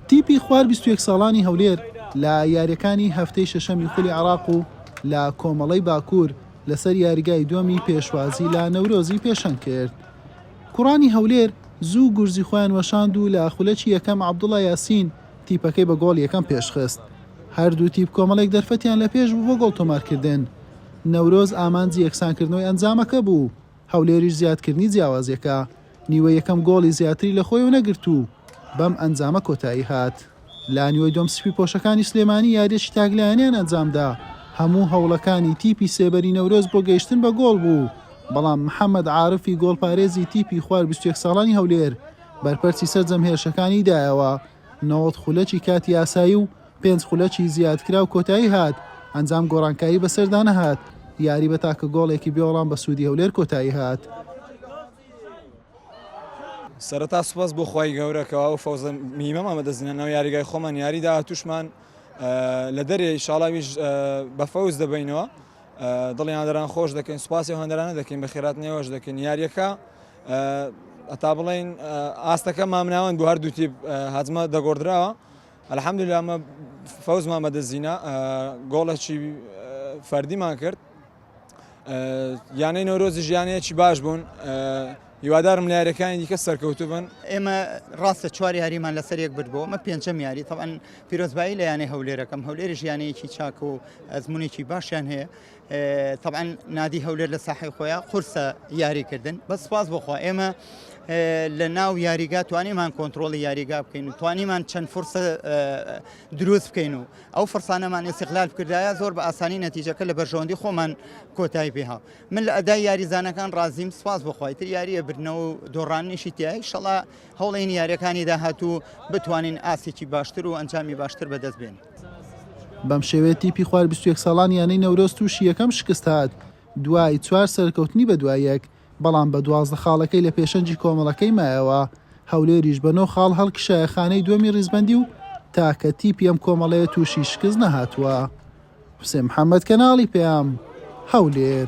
تیپی خوار بیست و یەک ساڵانی هەولێر لە یارییەکانی هەفتەی شەشەمی خولی عێراق و لە کۆمەڵەی باکوور لەسەر یاریگای دووەمی پێشوازی لە نەورۆزی پێشەنگ کرد. کوڕانی هەولێر زوو گورزی خۆیان وەشاند و لە خولەکی یەکەم عەبدوڵا یاسین تیپەکەی بە گۆڵ یەکەم پێشخست. هەردوو تیپ کۆمەڵێک دەرفەتیان لە پێش بوو بۆ گۆڵ تۆمارکردن. نەورۆز ئامانجی یەکسانکردنەوەی ئەنجامەکە بوو. هەولێریش زیادکردنی جیاوازییەکە نیوەی یەکەم گۆڵی زیاتری لە خۆیەوە نەگرت و بەم ئەنجامە کۆتایی هات. لە نیوەی دووەم سپیپۆشەکانی سلێمانی یارییەکی تاکلایەنەیان ئەنجامدا، هەموو هەوڵەکانی تیپی سێبەری نەورۆز بۆ گەیشتن بە گۆڵ بوو، بەڵام محەمەد عارفی گۆڵپارێزی تیپی خوار بیست و یەک ساڵانی هەولێر بەرپەرچی سەرجەم هێرشەکانی دایەوە نەوەد خولەکی کاتی یاسایی و پێنج خولەکی زیادکراو کۆتایی هات، ئەنجام گۆڕانکاری بەسەردا نەهات، یاری بە تاکە گۆڵێکی بێوەڵام بە سوودی هەولێر کۆتایی هات. سەرەتا سوپاس بۆ خوای گەورە کەوا ئەو فەوزە میمەمان بەدەستهێنا لەناو یاریگای خۆمان یاری داهاتووشمان لە دەرێ ئیشاڵاویش بە فەوز دەبینەوە دڵی هەندەران خۆش دەکەین سوپاسی هەندەرانە دەکەین بە خێرات نێوەش دەکەین یاریەکە ئەتا بڵین ئاستەکە مامناوەند بۆ هەردوو تیپ هەجمە دەگۆدراوە الحمدللە ئەمە فەوزمان بەدەستهینا گۆڵێکی فەردیمان کرد یانەی نەورۆزیش یانەیەکی باش بوون هیوادارم لە یاریەکانی دیکە سەرکەوتو بن ئێمە ڕاستە چوار یاریمان لەسەر یەک برد بۆ ئەمە پێنجەم یاری تەوان پیرۆزبایی لە یانەی هەولێرەکەم هەولێری ژیانەیەکی چاک و ئەزمونێکی باشیان هەیە تەبعەن نادی هەولێر لە ساحەی خۆیان قورسە یاری کردن بەس سپاس بۆخوا ئێمە لە ناو یاریگا توانیمان کۆنتترۆلی یاریگا بکەین و توانیمان چەند فرسە دروست بکەین و ئەو فرسانەمان ئێسیقلال بکردایە زۆر بە ئاسانی نەتیجەکە لە بەرژەوەندی خۆمان کۆتایی پێها من لە ئەدای یاریزانەکان ڕازیم سپاس بخوای تر یاریە بردنەوە و دۆڕاننیشی تایی شەڵا هەوڵین یاریەکانی داهاتوو بتوانین ئاسێکی باشتر و ئەنجامی باشتر بەدەست بێن. بەم شێوەیە تیپی خوار بیست و یەک ساڵان یانەی نەورۆز تووشی یەکەم شکست هات دوای چوار سەرکەوتنی بەدوای یەک، بەڵام بە دوازدە خاڵەکەی لە پێشەنگی کۆمەڵەکەی مایەوە، هەولێریش بە نۆ خاڵ هەڵکشایە خانەی دووەمی ریزبەندی و تاکە تیپی ئەم کۆمەڵەیە تووشی شکست نەهاتووە. حوسێن محەممەد، کەناڵی پەیام، هەولێر.